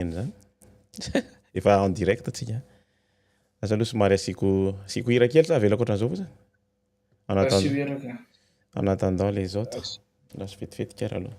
Eny zany. Efa en direct atsika. Asa aloha somary asiako asiako hira kely sa avelako ohatran'izao fotsiny. En attendant. En attendant les autres. Lasa vetivety kara aloha.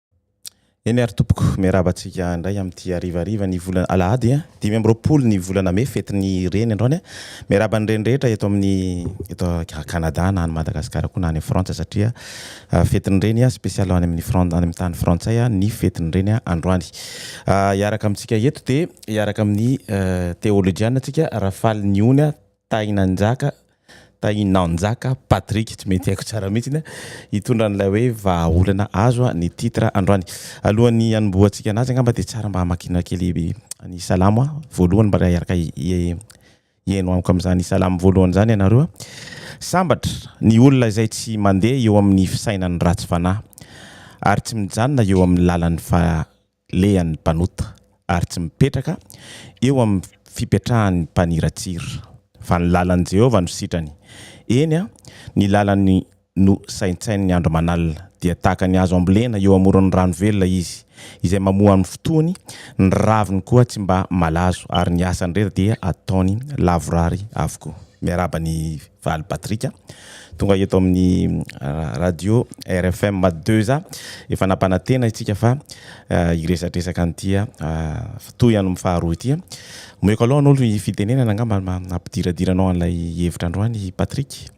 Eny ary tompoko, miarahaba antsika indray amin'ity harivariva ny volana alahady dimy amby roapolo ny volana mey, fetin'ny reny androany a! Miarahaba ny reny rehetra eto amin'ny eto Canada na any Madagasikara koa na any Frantsa satria fetin'ny reny a! Spécial any amin'ny Fran- any amin'ny tany frantsay ny fetin'ny reny androany. Hiaraka amintsika eto dia hiaraka amin'ny teolojiana antsika Rafaliniony Tahinanjaka, Tahinanjaka Patrick, tsy mety haiko tsara mihitsy ny hitondra an'ilay hoe vahaolana azo ny titre androany. Alohan'ny hanombohantsika anazy angamba dia tsara mba hamakiana kely ny salamo voalohany mba hiaraka hihaino amiko amin'izany salamo voalohany izany ianareo. Sambatra ny olona izay tsy mandeha eo amin'ny fisainan'ny ratsy fanahy ary tsy mijanona eo amin'ny lalan'ny lehan'ny mpanota ary tsy mipetraka eo amin'ny fipetrahan'ny mpaniratsira, fa ny lalan'i Jehovah no sitrany, eny, ny lalany no saintsaininy andro aman'alina. Dia tahaka ny hazo ambolena eo amoron'ny rano velona izy, izay mamoa amin'ny fotoany, ny raviny koa tsy mba malazo, ary ny asany rehetra dia ataony lavorary avokoa. Miarahaba ny. Valy Patrick tonga eto amin'ny radio rfm deux a efa nampanantena itsika fa hiresadresaka an'ity toy an'ny faharoa ity omeko aloha anao ny fitenenana angamba hampidiradira anao an'ilay hevitra androany Patrick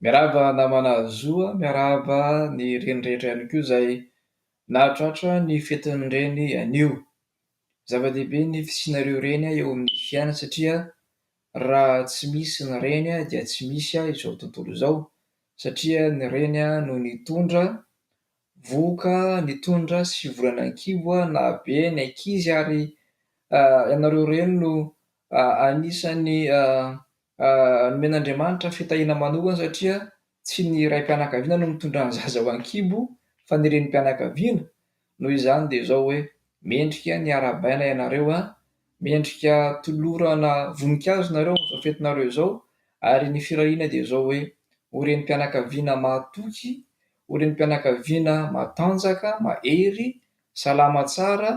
Miarahaba namana Zo a, miarahaba ny reny rehetra ihany koa izay nahatratra ny fetin'ny reny anio. Zava-dehibe ny fisianareo reny eo amin'ny fiainana satria Raha tsy misy ny reny dia tsy misy izao tontolo izao satria ny reny no nitondra vohoka nitondra sivy volana an-kibo nahabe ny ankizy ary ianareo reny no anisan'ny nomen'Andriamanitra fitahiana manokana satria Tsy ny raim-pianakaviana no mitondra ny zaza ho an-kibo fa ny renim-pianakaviana, noho izany dia izao hoe, mendrika ny harabaina ianareo an! mendrika tolorana voninkazo nareo amin'izao fetinareo izao ary ny firahina dia izao hoe, ho renim-pianakaviana mahatoky, ho renim-pianakaviana matanjaka, mahery, salama tsara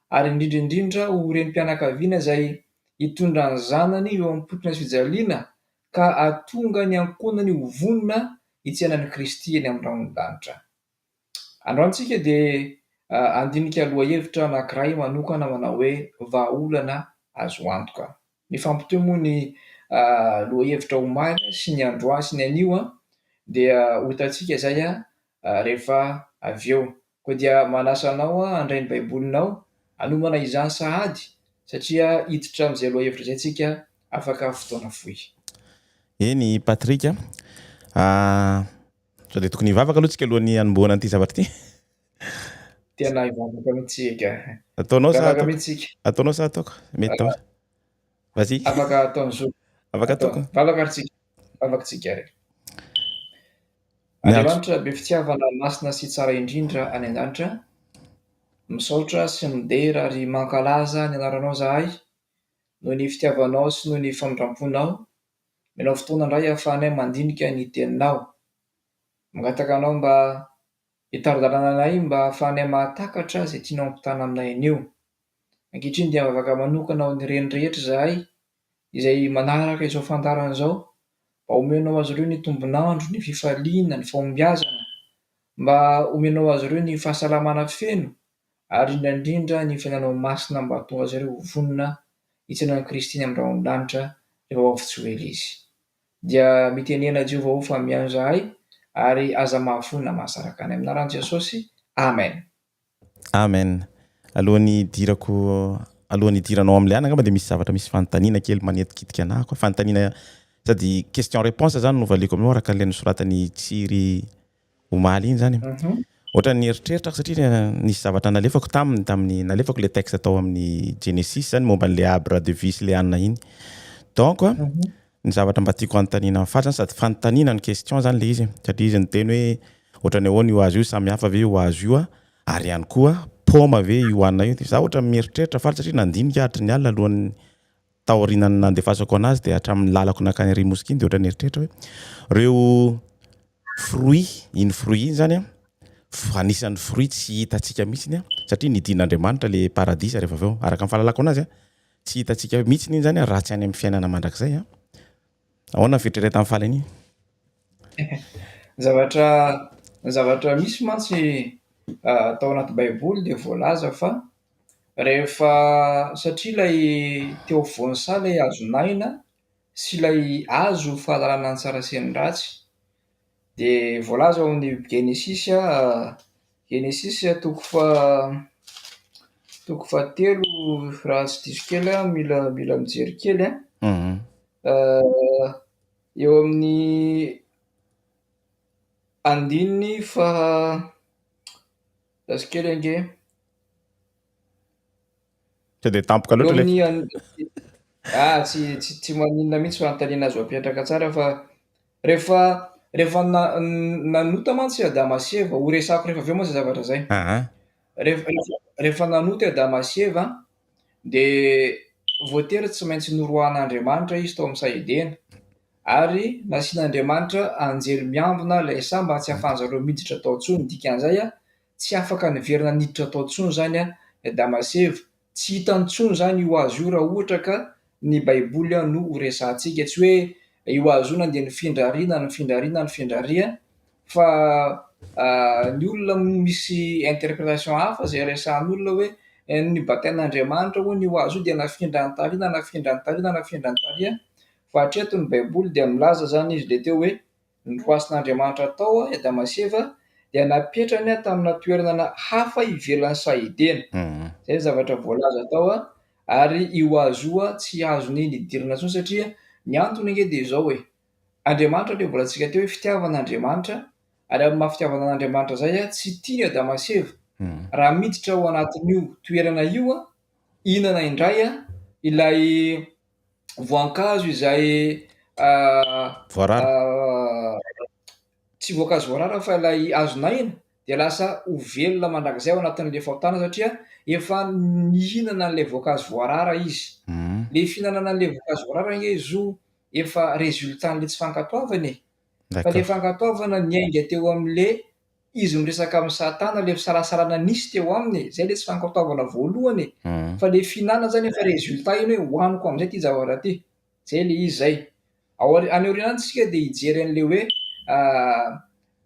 ary indrindra indrindra ho renim-pianakaviana izay hitondra ny zanany eo am-potona sy fijaliana ka hahatonga ny ankohonany ho vonona hitsaina an'i Kristy eny amin'ny rahon'ny lanitra. Androany isika dia handinika lohahevitra anankiray manokana manao hoe Vahaolana Azo Antoka. Mifampitohy moa ny lohahevitra omaly sy ny androany sy ny anio dia ho hitantsika izay rehefa avy eo. Koa dia manasa anao aho handray ny Baibolinao hanomana izany sahady satria hiditra amin'izay lohahevitra izay isika afaka fotoana fohy. Eny i Patrick a. Sao dia tokony hivavaka aloha tsika alohan'ny hanombohana an'ity zavatra ity? Tena hivavaka mihitsy eka. Ataonao sa ataoko? mihitsy tsika. Ataonao sa ataoko? Mety daholo. Vas-y. Afaka ataon'i Zoky. Afaka ataoko. Vavaka ary tsika. Vavaka tsika ary. Andriamanitra be fitiavana masina sy tsara indrindra any an-danitra, misaotra sy midera ary mankalaza ny anaranao zahay, noho ny fitiavanao sy noho ny famindramponao, menao fotoana indray ahafahanay mandinika ny teninao. Mangataka anao mba hitari-dalana anay mba ahafahanay mahatakatra izay tianao hampitana aminay anio. Ankehitriny dia mivavaka manokana ho ny reny rehetra izahay izay manaraka izao fandaharana izao, mba omenao azy ireo ny tombon'andro, ny fifaliana, ny fahombiazana, mba omenao azy ireo ny fahasalamana feno, ary indrindra indrindra ny fiainanao masina mba hahatonga azy ireo ho vonona hijanona amin'i Kristy any amin'ny rahon'ny lanitra rehefa ho avy tsy ho ela Izy. Dia mitenena Jehovah ô fa mihaino izahay ary aza mahafoy na mahasaraka anay. Amin'ny anaran'i Jesosy, Amen. Amen. Alohan'ny hidirako alohan'ny hidiranao amin'ny liana angamba dia misy zavatra misy fanontaniana kely manetikitika anah koa fanontaniana sady question réponse zany no valiako aminao araka an'ilay nosoratan'i Tsiry omaly iny zany ohatra ny eritreritra aho satria nisy zavatra nalefako taminy tamin'ny nalefako ilay texte tao amin'ny Genesis zany momba an'ilay Abra de Vie sy Leanna iny donc Ny zavatra mba tiako anontaniana an'i Faly zany sady fanontaniana no question zany le izy satria izy niteny hoe ohatrany ahoana io hazo io samy hafa ve io hazo io a? ary ihany koa paoma ve io anona io de za ohatra mieritreritra Faly satria nandinika aho hatry ny alina alohan'ny taorianan'ny nandefasako anazy de hatramin'ny lalako nankany Area Mosquée iny de ohatra nieritreritra hoe reo fruits iny fruits iny zany a f- anisan'ny fruits tsy hitantsika mihitsiny a satria nidin'Andriamanitra le paradisa rehefa avy eo araka ny fahalalako anazy a. Tsy hitantsika mihitsy iny zany raha tsy any amin'ny fiainana mandrakizay an. Ahoana ny fieritreretan'i Fally an'iny? Zavatra zavatra misy mantsy tao anaty baiboly dia voalaza fa rehefa satria ilay teo afovoan'ny saha ilay hazon'aina sy ilay hazo fahalalana ny tsara sy ny ratsy. Dia voalaza ao amin'ny Genesisy a, Genesisy toko fa toko fahatelo raha tsy diso kely a, mila mila mijery kely a. Mhm. Euh, eo amin'ny andininy faha raha tsy kely ange. Tsy dia tampoka loatra le. Ah, tsy tsy tsy maninona mihitsy fanontaniana azo apetraka tsara fa rehefa rehefa nanota mantsy i Adama sy Eva, ho resako rehefa avy eo moa izay zavatra izay. Rehefa rehefa nanota i Adama sy Eva dia voatery tsy maintsy noroahan'Andriamanitra izy tao amin'ny saha Edena ary nasian'Andriamanitra anjely miambina ilay saha mba tsy ahafahan'izareo miditra tao intsony, ny dikan'izay a, Tsy afaka niverina niditra tao intsony izany i Adama sy Eva. Tsy hitany intsony izany io hazo io raha ohatra ka ny Baiboly no horesahantsika. Tsy hoe io hazo io nandeha nifindra arỳ na nifindra arỳ na nifindra arỳ fa ny olona misy interpretation hafa izay resahan'olona hoe nibatain'Andriamanitra hono io hazo io dia nafindra any tary na nafindra any tary na nafindra any tary fa hatreto ny Baiboly dia milaza izany izy ilay teo hoe Ny lohasin'Andriamanitra tao i Adama sy Eva dia napetrany tamina toerana hafa ivelan'ny saha Edena. Izay ny zavatra voalaza tao. Ary io hazo io tsy azony nidirana intsony satria ny antony ange dia izao e, Andriamanitra anie mbola tsika teo hoe fitiavana Andriamanitra ary amin'ny maha fitiavana an'Andriamanitra izay tsy tiany Adama sy Eva raha miditra ao anatin'io toerana io hihinana indray ilay voankazo izay voarara tsy voankazo voarara fa ilay azon'aina dia lasa ho velona mandrakizay ao anatin'ilay fahotana satria efa nihinana an'ilay voankazo voarara izy. Mm. Le fihinanana an'ilay voankazo voarara nge zo efa résultat-n'ilay tsy fankatoavana e. Fa le fankatoavana niainga teo amin'ilay izy miresaka amin'i satana ilay fisalasalana nisy teo aminy e, izay ilay tsy fankatoavana voalohany e, fa ilay fihinanana izany efa résultat iny hoe hohaniko amin'izay ity zavatra ity, izay ilay izy izay. Ao any aorianany isika dia hijery an'ilay hoe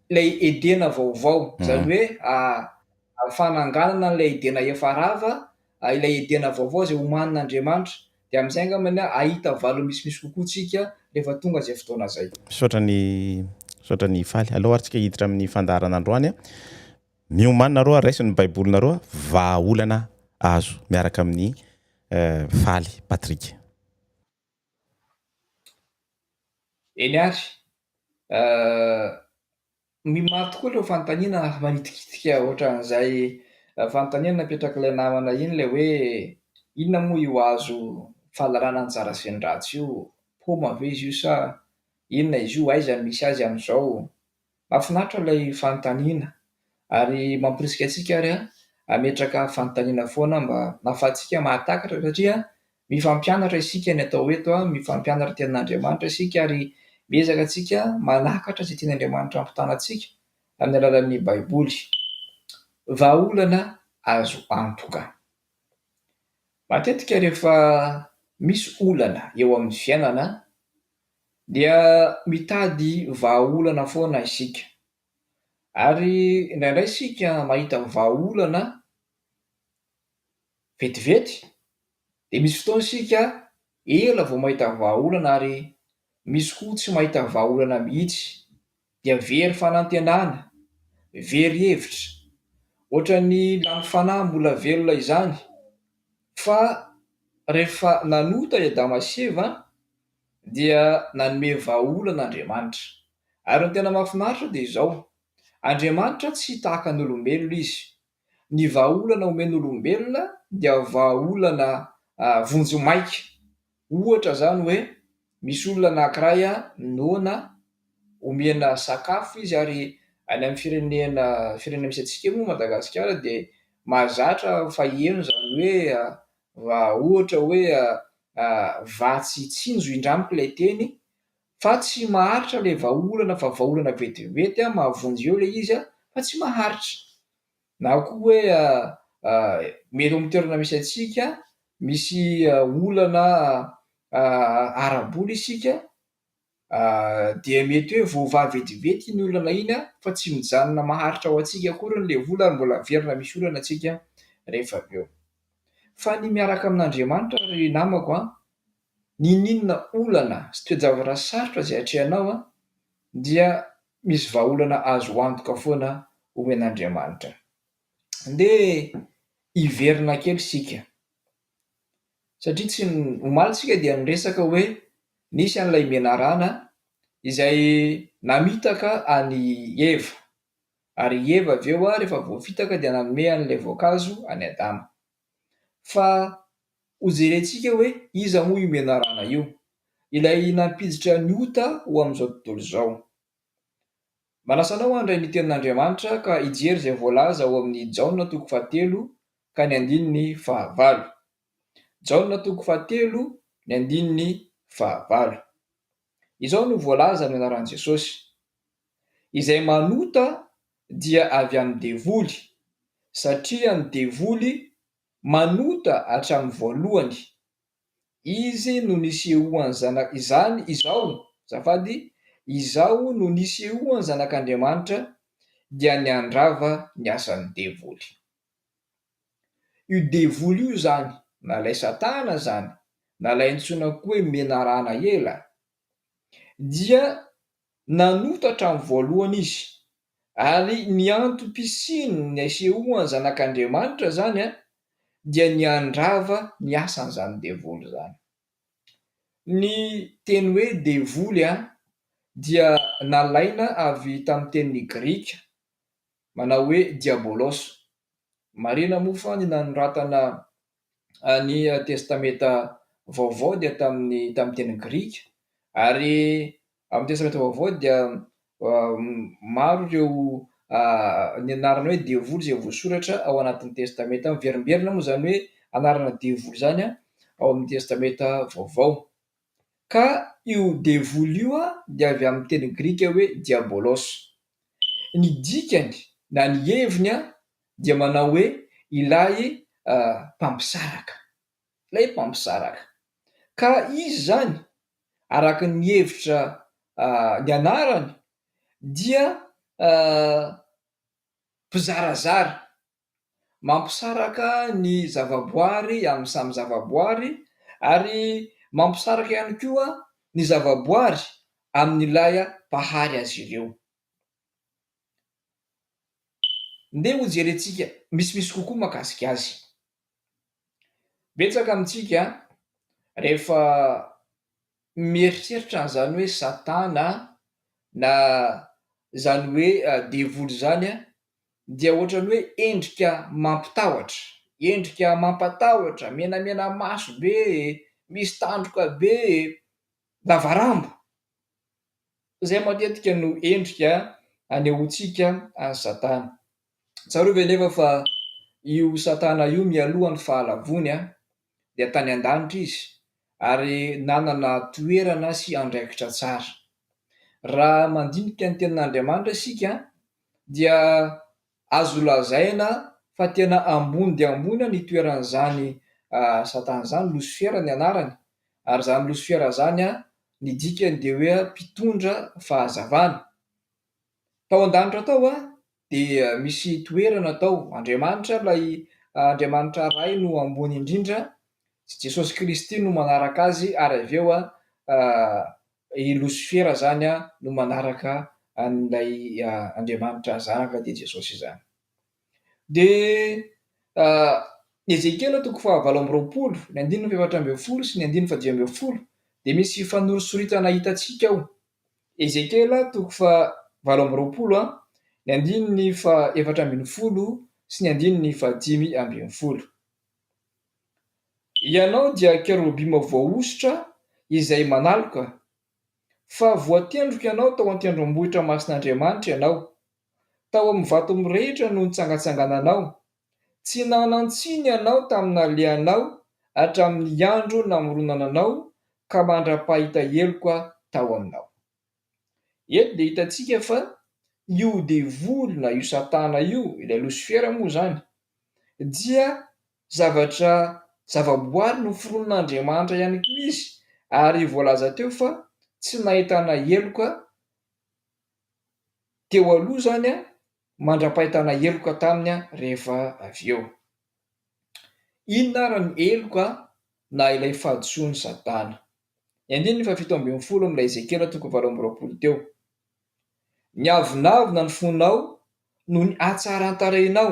ilay Edena vaovao, izany hoe fananganana an'ilay Edena efa rava, ilay Edena vaovao izay homanin'Andriamanitra, Dia amin'izay angambany hahita valiny misimisy kokoa tsika rehefa tonga izay fotoana izay. Misaotra ny misaotra ny faly. Aleo ary tsika hiditra amin'ny fandaharana androany a. Miomàna nareo ary raiso ny baibolinareo a. Vahaolana azo miaraka amin'ny faly Patrick. Eny ary. Ny maro tokoa ireo fanontaniana manitikitika ohatran'izay fanontaniana napetrak'ilay namana iny ilay hoe inona moa io hazo fahalalana anjara sy ny ratsy io? Paoma ve izy io sa inona izy io? Aiza no misy azy amin'izao? Mahafinaritra ilay fanontaniana ary mamporisika antsika ary hametraka fanontaniana foana mba hahafahantsika mahatakatra satria Mifampianatra isika ny atao eto a, mifampianatra ny tenin'Andriamanitra isika ary miezaka antsika manakatra izay tian'Andriamanitra hampitana antsika amin'ny alalan'ny Baiboly. Vahaolana azo antoka. Matetika rehefa misy olana eo amin'ny fiainana dia mitady vahaolana foana isika. Ary indraindray isika mahita vahaolana Vetivety dia misy fotoana isika ela vao mahita vahaolana ary misy koa tsy mahita vahaolana mihitsy dia very fanantenana, very hevitra, ohatran'ny lany fanahy mbola velona izany fa rehefa nanota i Adama sy Eva dia nanome vahaolana Andriamanitra. Ary ny tena mahafinaritra dia izao, Andriamanitra tsy tahaka ny olombelona izy. Ny vahaolana omen'olombelona dia vahaolana vonjimaika. Ohatra izany hoe misy olona anankiray noana omena sakafo izy ary any amin'ny firenena firenena misy antsika eo moa Madagasikara dia mahazatra fa heno izany hoe raha ohatra hoe vatsy tsinjo indramiko ilay teny Fa tsy maharitra le vahaolana fa vahaolana vetivety an mahavonjy eo le izy an fa tsy maharitra. Na koa hoe mety eo am toerana misy antsika misy olana ara bola isika dia mety hoe voavaha vetivety iny olana iny an fa tsy mijanona maharitra ho antsika akoriny le vola ary mbola averina misy olana tsika rehefa avy eo. Fa ny miaraka amin Andriamanitra ry namako an. N'inon'inona olana sy toe-javatra sarotra izay atrehanao dia misy vahaolana azo antoka foana omen'Andriamanitra. Andeha hiverina kely isika satria tsy omaly isika dia niresaka hoe nisy an'ilay menarana izay namitaka an'i Eva ary i Eva avy eo rehefa voafitaka dia nanome an'ilay voankazo an'i Adama. Fa hojerentsika hoe iza moa io menarana io? Ilay nampiditra ny ota ho amin'izao tontolo izao. Manasa anao handray ny Tenin'Andriamanitra ka hijery izay voalaza ao amin'ny Jaona toko fahatelo ka ny andininy fahavalo. Jaona toko fahatelo ny andininy fahavalo. Izao no voalaza amin'ny anaran'i Jesosy, Izay manota dia avy amin'ny devoly, satria ny devoly manota hatramin'ny voalohany. Izy no nisehoan'ny Zana, izany, izao, azafady, izao no nisehoan'ny Zanak'Andriamanitra, dia niandrava ny asan'ny devoly. Io devoly io izany na ilay satana izany na ilay antsoina koa hoe menarana ela dia nanotatra ny voalohany izy ary ny antom-pisiany ny asehoany zanak'Andriamanitra izany an dia ny handrava ny asan'izany devoly izany. Ny teny hoe devoly dia nalaina avy tamin'ny teny grika manao hoe Diabolos. Marina moa fa ny nanoratana ny Testamenta Vaovao dia tamin'ny tamin'ny teny grika, ary amin'ny Testamenta Vaovao dia maro ireo ny anarana hoe devoly izay voasoratra ao anatin'ny Testamenta. Miverimberina moa izany hoe anarana devoly izany ao amin'ny Testamenta Vaovao. Ka io devoly io dia avy amin'ny teny grika hoe Diabolos. Ny dikany na ny heviny dia manao hoe ilay mpampisaraka. Ilay mpampisaraka. Ka izy izany, araka ny hevitra ny anarany, dia mpizarazara. mampisaraka ny zavaboary amin'ny samy zavaboary ary mampisaraka ihany koa ny zavaboary amin'ilay Mpahary azy ireo. Ndeha hojerentsika misimisy kokoa mahakasika azy. Betsaka amintsika rehefa mieritreritra an'izany hoe Satana na izany hoe devoly izany dia ohatran'ny hoe endrika mampitahotra, endrika mampatahotra, menamena maso be e, misy tandroka be e, lavarambo. Izay matetika no endrika anehoantsika an'i Satana. Tsarovy anefa fa io Satana io mialoha ny Fahalavoany dia tany an-danitra izy ary nanana toerana sy andraikitra tsara. Raha mandinika ny Tenin'Andriamanitra isika, dia azo lazaina fa tena ambony dia ambony ny toeran'izany Satana izany, Losifera ny anarany, ary izany Losifera izany, ny dikany dia hoe mpitondra fahazavana. Tao an-danitra tao Dia misy toerana tao. Andriamanitra, ilay Andriamanitra Ray no ambony indrindra, sy Jesosy Kristy no manaraka azy, ary avy eo i Losifera izany no manaraka an'ilay Andriamanitra Zanaka, dia Jesosy izany. Dia Ezekiela toko fahavalo amby roapolo, ny andininy fahefatra ambin'ny folo sy ny andininy fahadimy ambin'ny folo, dia misy fanorisoritana hitantsika ao. Ezekiela toko faha valo amby roapolo a, ny andininy faha efatra ambin'ny folo sy ny andininy faha dimy ambin'ny folo. Ianao dia kerobima voahosotra izay manaloka, fa voatendroka ianao tao an-tendrombohitra masin'Andriamanitra ianao, tao amin'ny vato mirehitra no nitsangatsangananao, Tsy nanan-tsiny ianao tamin'ny nalehanao hatramin'ny andro namoronana anao ka mandra-pahita heloka aho tao aminao. Eto dia hitantsika fa io devoly na io satana io, ilay losifera moa izany, dia zavatra, zavaboary noforonin'Andriamanitra ihany koa izy ary voalaza teo fa tsy nahitana heloka teo aloha izany mandra-pahitana heloka taminy rehefa avy eo. Inona ary ny heloka na ilay fahadisoan'i Satana? Ny andininy fahafito ambin'ny folo amin'ilay Ezekiela toko valo amby roapolo teo. Niavonavona ny fonao noho ny hatsaran-tarainao.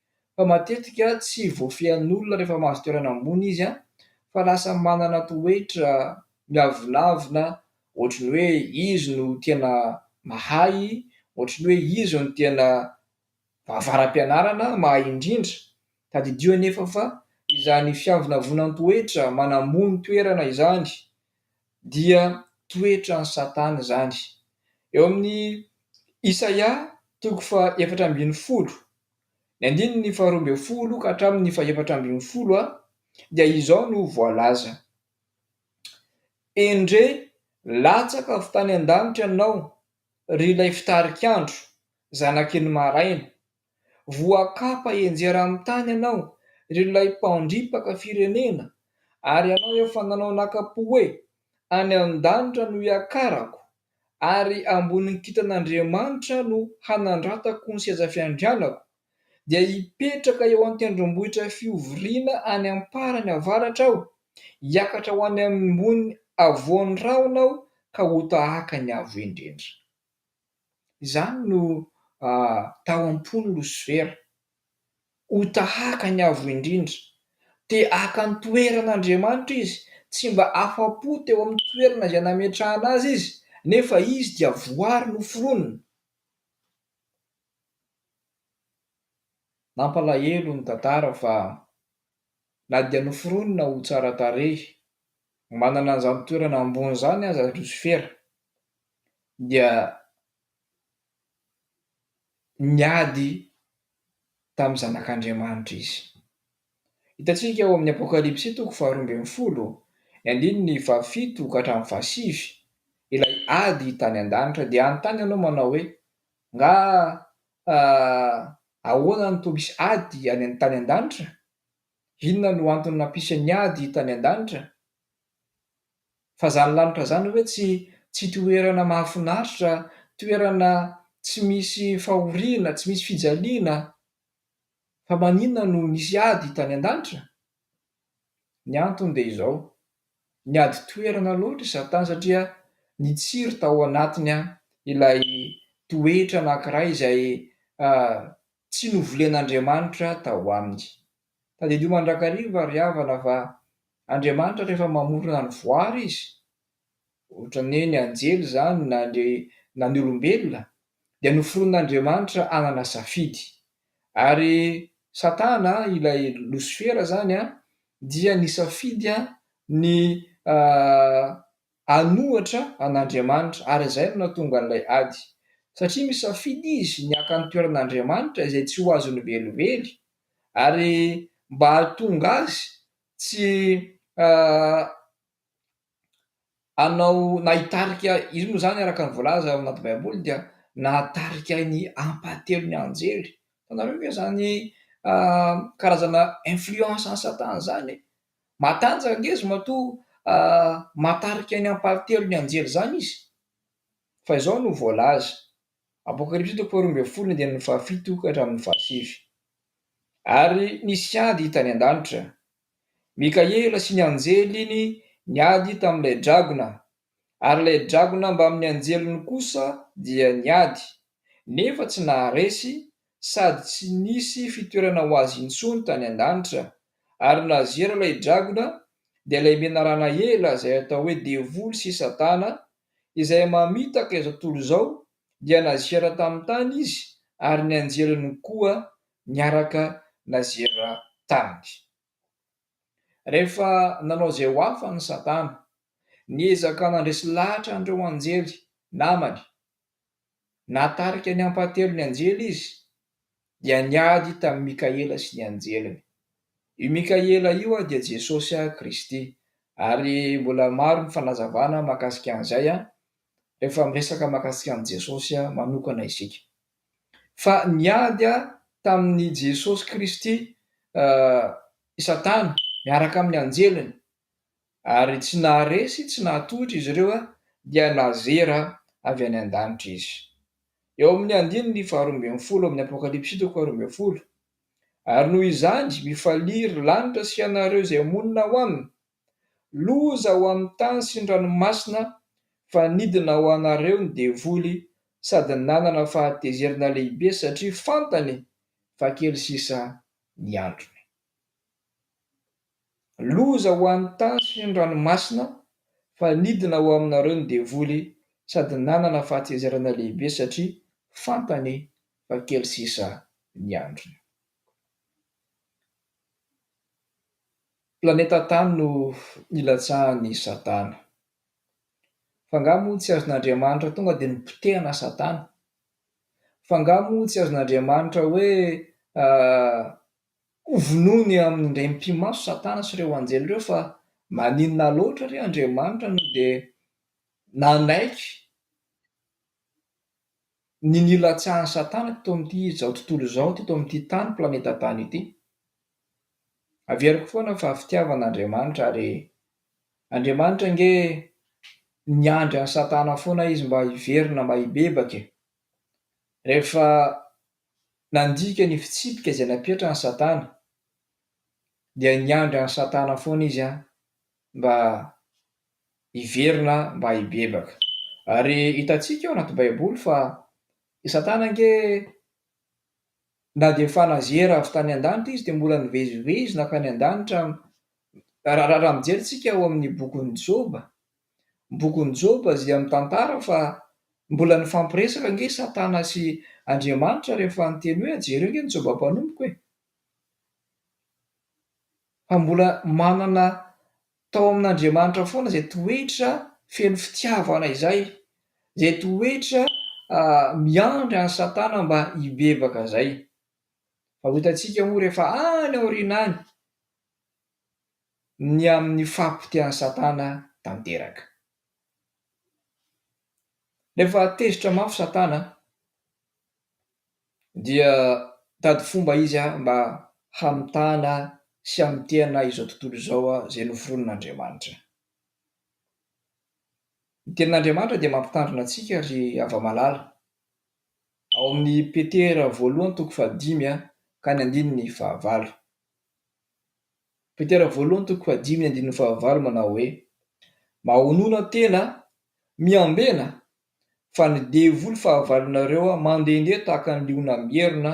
fa matetika tsy voafehin'olona rehefa mahazo toerana ambony izy fa lasa manana toetra miavonavona ohatry ny hoe izy no tena mahay, ohatry ny hoe izy no tena avara-pianarana, mahay indrindra. Tadidio anefa fa izany fiavonavunan-toetra, manambony toerana izany dia toetran'i Satana izany. Eo amin'ny Isaia toko faha efatra ambin'ny folo. Ny andininy faharoa ambin'ny folo ka hatramin'ny fahefatra ambin'ny folo dia izao no voalaza, Endre latsaka avy tany an-danitra ianao, ry Ilay Fitarik'andro, Zanaky ny Maraina. Voakapa henjera amin'ny tany ianao, ry Ilay Mpandripaka firenena, ary ianao efa nanao naka-po hoe, Any an-danitra no hiakarako, ary ambonin'ny kintan'Andriamanitra no hanandratako ny seza fiandrianako, dia hipetraka eo an-tendrombohitra fihovoriana any am-parany avaratra aho, hiakatra ho any ambony havoan'ny rahona aho ka ho tahaka ny Avo Indrindra. Izany no tao am-pon'i Losifera. Ho tahaka ny Avo Indrindra. Te haka ny toeran' Andriamanitra izy, tsy mba afa-po teo amin'ny toerana izay nametrahana azy izy, nefa izy dia voary noforonina. Nampalahelo ny tantara fa na dia noforonina ho tsara tarehy, manana an'izany toerana ambony izany aza Losifera, dia niady tamin'ny Zanak'Andriamanitra izy. Hitantsika ao amin'ny Apokalypsy toko faharoa ambin'ny folo, ny andininy fahafito ka hatramin'ny fahasivy, ilay ady tany an-danitra. Dia hanontany ianao manao hoe, Angaha ahoana no toa misy ady any tany an-danitra? Inona no antony nampisy ny ady tany an-danitra? Fa zany lanitra zany ve tsy tsy toerana mahafinaritra, toerana tsy misy fahoriana, tsy misy fijaliana? Fa maninona no nisy ady tany an-danitra? Ny antony dia izao, niady toerana loatra i Satana satria nitsiry tao anatiny ilay toetra anankiray izay tsy novolen'Andriamanitra tao aminy. Tadidio mandrakariva ry havana fa Andriamanitra rehefa mamorona ny voary izy, ohatrany hoe ny anjely izany na ny na ny olombelona dia noforonin'Andriamanitra hanana safidy. Ary Satana ilay losifera izany dia nisafidy ny Hanohatra an'Andriamanitra, ary izay no nahatonga an'ilay ady. Satria misafidy izy ny haka ny toeran'Andriamanitra izay tsy ho azony velively, ary mba hahatonga azy tsy hanao na hitarika, izy moa izany araka ny voalaza ao anaty Baiboly dia nahatarika ny ampahatelon'ny anjely. Fantatrareo ve izany karazana influence an'i Satana izany? Matanjaka ange izy matoa mahatarika ny ampahatelon' ny anjely izany izy. Fa izao no voalaza, Apokalypsy toko faharoa ambin'ny folo andininy fahafito ka hatramin' ny fahasivy, Ary nisy ady tany an-danitra. Mikaela sy ny anjeliny niady tamin' ilay dragona Ary ilay dragona mbamin'ny anjeliny kosa dia niady, nefa tsy naharesy, sady tsy nisy fitoerana ho azy intsony tany an-danitra. Ary nazera ilay dragona, dia ilay menarana ela izay atao hoe Devoly sy Satana, izay mamitaka izao tontolo izao, dia nazera tamin'ny tany izy, ary ny anjeliny koa niaraka nazera taminy. Rehefa nanao izay ho afany i Satana, niezaka nandresy lahatra an'ireo anjely namany. Nahatarika ny ampahatelon' ny anjely izy, dia niady tamin'i Mikaela sy ny anjeliny. Io Mikaela io dia Jesosy Kristy, ary mbola maro ny fanazavana mahakasika an'izay rehefa miresaka mahakasika an'i Jesosy manokana isika. fa niady tamin'i Jesosy Kristy i Satana miaraka amin'ny anjeliny, ary tsy naharesy, tsy nahatohitra izy ireo, dia nazera avy any an-danitra izy. Eo amin'ny andininy faharoa ambin'ny folo amin'ny Apokalypsy toko faharoa ambin'ny folo, Ary noho izany, mifalia, ry lanitra sy ianareo izay monina ao aminy! Loza ho amin'ny tany sy ny ranomasina fa nidina ho anareo ny devoly sady nanana fahatezerana lehibe satria fantany fa kely sisa ny androny. Loza ho an'ny tany sy ny ranomasina fa nidina ho aminareo ny devoly sady nanana fahatezerana lehibe satria fantany fa kely sisa ny androny. Planeta Tany no nilatsahan'i Satana. F'angaha moa tsy azon'Andriamanitra tonga dia nipotehana Satana? F'angaha moa tsy azon'Andriamanitra hoe hovonoiny amin'indray mipi-maso Satana sy ireo anjely ireo fa maninona loatra re Andriamanitra no dia nanaiky ny nilatsahan'i Satana teto amin'ity izao tontolo izao, teto amin'ity tany, planeta tany ity. Averiko foana fa fitiavana Andriamanitra ary Andriamanitra ange niandry an'i Satana foana izy mba hiverina mba hibebaka e! Rehefa nandika ny fitsipika izay napetrany Satana dia niandry an'i Satana foana izy an mba hiverina mba hibebaka. Ary hitantsika ao anaty Baiboly fa i Satana ange na dia efa nazera avy tany an-danitra izy dia mbola nivezivezy nankany an-danitra. Raha mijery isika ao amin'ny bokin'i Joba, ny bokin'i Joba dia mitantara fa mbola nifampiresaka ange i Satana sy Andriamanitra rehefa niteny hoe jereo ange ny Joba mpanompoko e! Fa mbola manana Tao amin'Andriamanitra foana izay toetra feno fitiavana izay, izay toetra miandry an'i Satana mba hibebaka izay. Fa ho hitantsika moa rehefa any aoriana any ny amin'ny fahapotehan'i Satana tanteraka. Rehefa tezitra mafy Satana, Dia mitady fomba izy mba hamitahana sy hamotehana izao tontolo izao izay noforonin'Andriamanitra. Ny Tenin'Andriamanitra dia mampitandrina antsika ry hava-malala, ao amin'ny Petera voalohany toko fahadimy ka ny andininy fahavalo. Petera voalohany toko fahadimy ny andininy fahavalo manao hoe, Mahonona tena, miambena fa ny devoly fahavalonareo mandehandeha tahaka ny liona mierona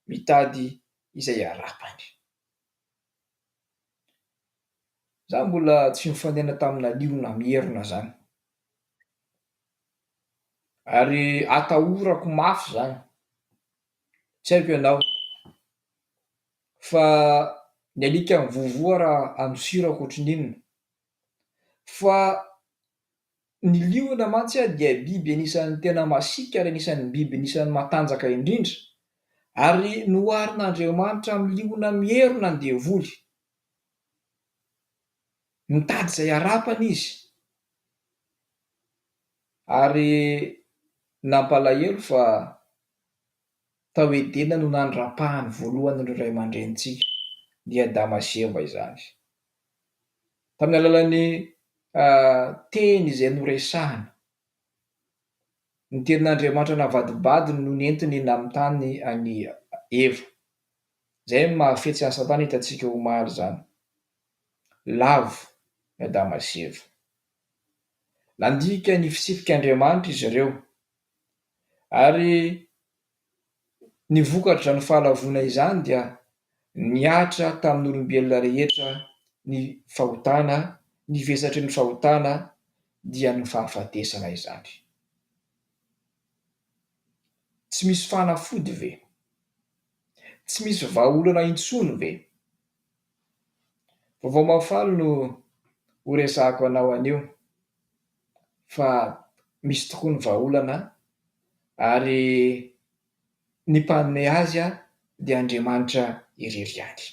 mitady izay harapany. Za mbola tsy nifanena tamina liona mierona zany ary atahorako mafy zany, tsy haiko ianao fa ny alika mivovoha raha andosira ohatrin'inona fa Ny liona mantsy dia biby anisan'ny tena masiaka ary anisan'ny biby anisan'ny matanjaka indrindra, ary noharin'Andriamanitra amin'ny liona mierona ny devoly. Mitady izay harapany izy, ary nampalahelo fa Tao Edena no nandrapahany voalohany ireo ray aman-drenintsika, dia i Adama sy Eva izany. Tamin'ny alalan'ny Teny izay noresahina, ny Tenin'Andriamanitra navadibadiny no nentiny nanontany an'i Eva. Izay no mahafetsy an'i Satana hitantsika omaly izany. Lavo i Adama sy Eva. Nandika ny fitsipik'Andriamanitra izy ireo, Ary ny vokatr'izany fahalavoana izany dia nihatra tamin'olombelona rehetra ny fahotana, ny vesatry ny fahotana dia ny fahafatesana izany. Tsy misy fanafody ve? Tsy misy vahaolana intsony ve? Vaovao mahafaly no horesahako anao anio. fa misy tokoa ny vahaolana ary ny mpanome azy dia Andriamanitra irery ihany.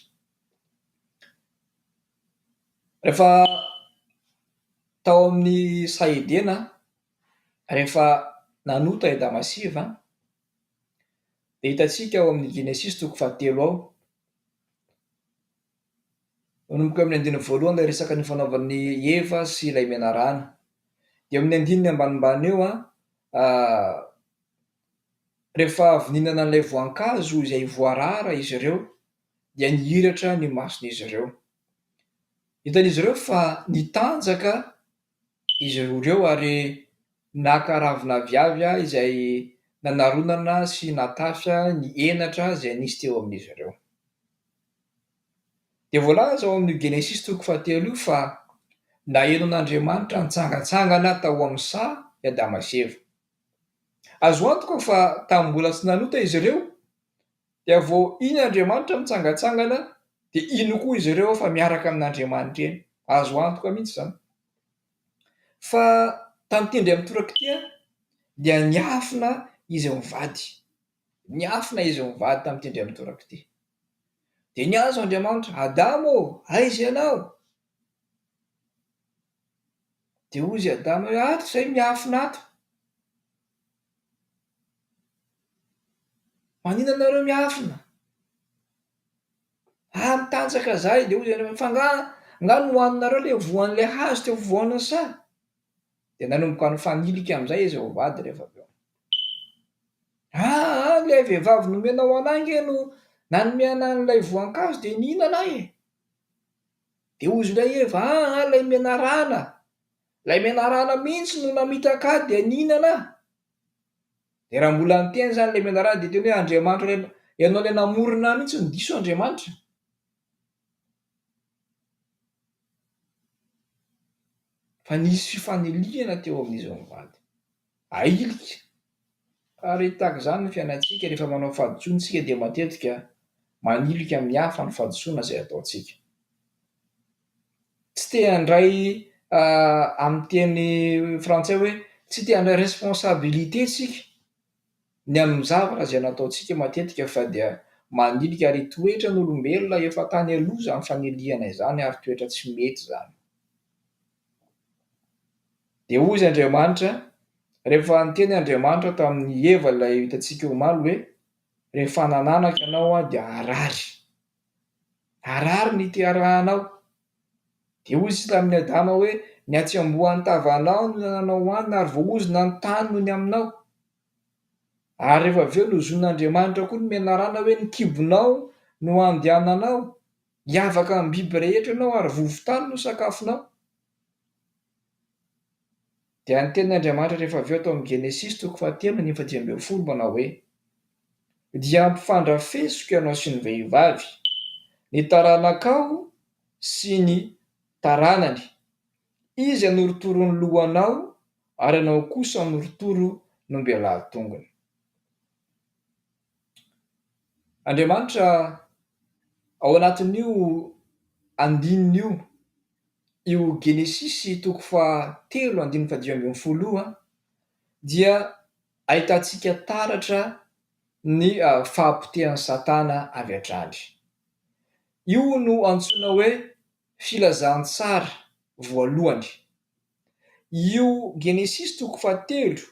Rehefa tao amin'ny saha Edena, rehefa nanota i Adama sy Eva dia hitantsika ao amin'ny Genesisy toko fahatelo ao, Manomboka amin'ny andininy voalohany ilay resaka nifanaovan'i Eva sy ilay menarana. Dia amin'ny andininy ambanimbany eo an, rehefa avy nihinana an'ilay voankazo izay voarara izy ireo dia nihiratra ny mason'izy ireo. Hitan'izy ireo fa nitanjaka izy roa ireo ary naka ravina aviavy izay nanaronana sy natafy ny henatra izay nisy teo amin'izy ireo. Dia voalaza ao amin'io Genesisy toko fahatelo io fa nahenon'Andriamanitra nitsangantsangana tao amin'ny saha i Adama sy Eva. Azo antoka fa tamin'ny mbola tsy nanota izy ireo dia vao iny Andriamanitra mitsangantsangana dia iny koa izy ireo fa miaraka amin'Andriamanitra eny. Azo antoka mihitsy izany. Fa tantindry amin'ny torak'ity dia niafina izy mivady. Niafina izy mivady tantindry amin'ny torak'ity. Dia niantso Andriamanitra, Adama ô, aiza ianao? Dia hozy Adama hoe, Ato izay miafina ato. Maninona nareo miafina? Ah, mitanjaka zahay. Dia hozy Andriamanitra, Fa nga, nga nohaninareo ilay voan'ilay hazo teo afovoaniny sa? Dia nanomboka nifanilika amin'izay izy vao mivady rehefa avy eo. Aa! ilay vehivavy nomenao an'ahy ange no nanome an'ahy an'ilay voankazo dia nihinana aho e! Dia hozy ilay Eva, aa! ilay menarana, ilay menarana mihitsy no namitaka ahy dia nihinana aho. Dia raha mbola niteny izany ilay menarana dia teny hoe Andriamanitra ilay, ianao ilay namorona ahy mihitsy no diso Andriamanitra. Fa nisy fifanilihana teo amin'izy roa mivady. Ahilika! Ary tahaka izany ny fiainantsika, rehefa manao fahadisoana isika dia matetika manilika amin'ny hafa ny fahadisoana izay ataontsika. Tsy te handray amin'ny teny frantsay hoe tsy te handray responsabilité isika. Ny amin'ny zavatra izay nataontsika matetika fa dia manilika ary toetra ny olombelona efa tany aloha izany fanilihana izany ary toetra tsy mety izany. Dia hoy izy Andriamanitra, rehefa niteny Andriamanitra tamin'i Eva ilay hitantsika omaly hoe rehefa hanananaka ianao dia harary. Arary ny teharahanao. Dia hoy izy tamin'i Adama hoe, Ny hatsembohan'ny tavanao no nananao hohanina ary voaozona ny tany nony aminao. Ary rehefa avy eo nozonin'Andriamanitra koa ny menarana hoe, Ny kibonao no handehananao, hiavaka amin'ny biby rehetra ianao ary vovon-tany no sakafonao. Dia ny tenin' Andriamanitra rehefa avy eo tao amin'ny Genesisy toko fahatelo andininy fahadimy ambin'ny folo manao hoe, Dia hampifandrafesiko ianao sy ny vehivavy, ny taranakao sy ny taranany, izy hanorotoro ny lohanao ary ianao kosa hanorotoro ny ombelahy tongony. Andriamanitra ao anatin'io andininy io, io Genesisy toko faha telo andininy faha dimy ambin'ny folo io dia ahitantsika taratra ny fahapotehan'i Satana avy hatrany. Io no antsoina hoe filazantsara voalohany. Io Genesisy toko fahatelo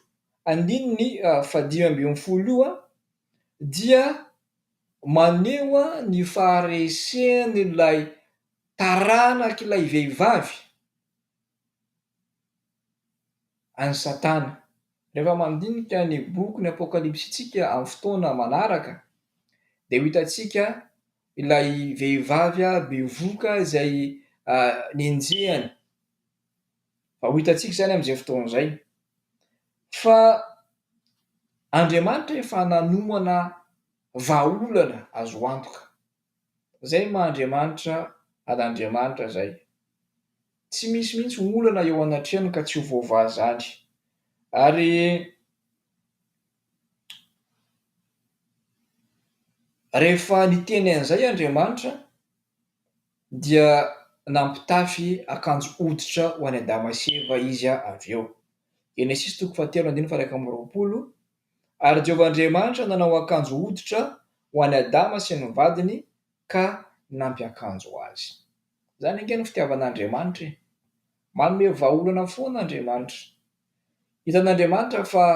andininy fahadimy ambin'ny folo io dia maneho ny faharesen'ilay taranak'ilay vehivavy an'i Satana. Rehefa mandinika ny bokin'ny Apokalypsintsika amin'ny fotoana manaraka dia ho hitantsika. ilay vehivavy bevoka izay nenjehina. Fa ho hitantsika izany amin'izay fotoana izay. Fa Andriamanitra efa nanomana vahaolana azo antoka. Izay ny maha Andriamanitra an'Andriamanitra izay. Tsy misy mihitsy olana eo anatrehany ka tsy ho voavaha izany. Ary Rehefa niteny an'izay Andriamanitra dia nampitafy akanjo hoditra ho an'i Adama sy Eva Izy avy eo. Genesisy toko fahatelo andininy faha-iraika amby roapolo Ary Jehovah Andriamanitra nanao akanjo hoditra ho an'i Adama sy ny vadiny ka nampiakanjo azy. Izany ange no fitiavan'Andriamanitra e! Manome vahaolana foana Andriamanitra Hitan'Andriamanitra fa